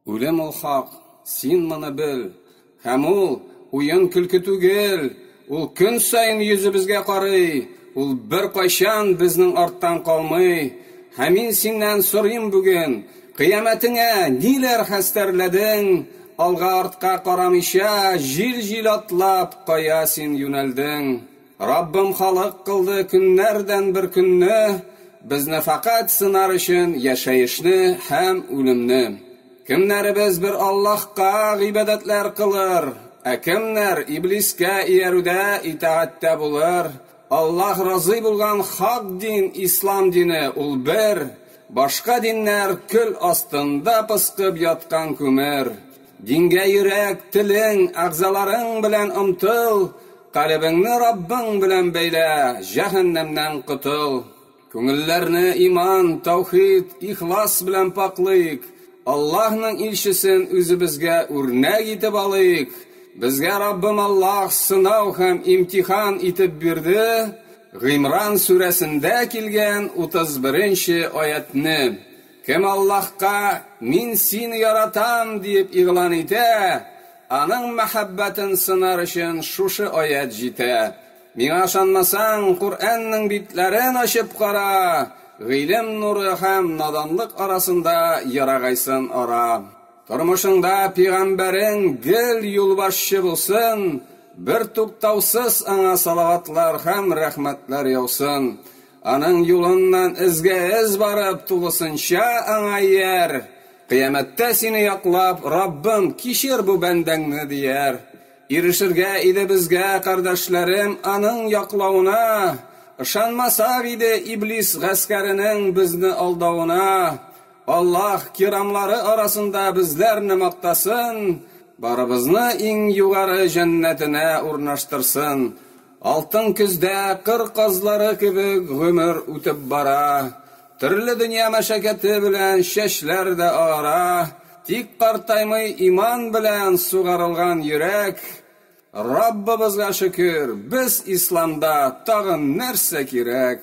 Үлем ул хак, син моны бел, һәм ул уен-көлке түгел, ул көн саен йөзебезгә карый, ул беркайчан безнең арттан калмый, һәм мин синнән сорыйм бүген, кыямәтеңә ниләр хәстәрләдең, алга-артка карамыйча, җил-җил атлап, кая син юнәлдең? Раббым халык кылды көннәрдән бер көнне, Безне фәкать сынар өчен яшәешне һәм үлемне. Кемнәребез бер Аллаһка гыйбадәтләр кылыр, ә кемнәр Иблискә иярүдә итагатьтә булыр? Аллаһ разый булган хак дин Ислам дине, ул бер, башка диннәр көл астында пыскып яткан күмер. Дингә йөрәк, телең, әгъзаларың белән омтыл, калебеңне Раббың белән бәйлә, җәһәннәмнән котыл. Күңелләрне иман, таухид, ихлас белән пакълыйк, Аллаһның илчесен үзебезгә үрнәк итеп алыйк. Безгә Раббым Аллаһ сынау һәм имтихан итеп бирде, Гыймран сүрәсендә килгән 31 нче аятьне. Кем Аллаһка, Мин сине яратам, диеп игълан итә, аның мәхәббәтен сынар өчен шушы аять җитә. Миңа ышанмасаң, Коръәннең битләрен ачып кара, гыйлем нуры һәм наданлык арасында ерагайсын ара. Тормышыңда пигамбәрең гел юлбашчы булсын, бертуктаусыз аңа салаватлар һәм рәхмәтләр яусын. Аның юлыннан эзгә-эз барып, тулысынча аңа ияр. Кыямәттә сине яклап, Раббым, кичер бу бәндәңне, дияр. Ирешергә иде безгә, кардәшләрем, аның яклавына. Ышанмасак иде Иблис гаскәренең безне алдавына. Аллаһ кирамлары арасында безләрне мактасын, барыбызны иң югары җәннәтенә урнаштырсын. Алтын көздә кыр казлары кебек гомер үтеп бара. Төрле дөнья мәшәкате белән чәчләр дә агара, тик картаймый иман белән сугарылган йөрәк. Раббыбызга шөкер, без исламда, тагын нәрсә кирәк?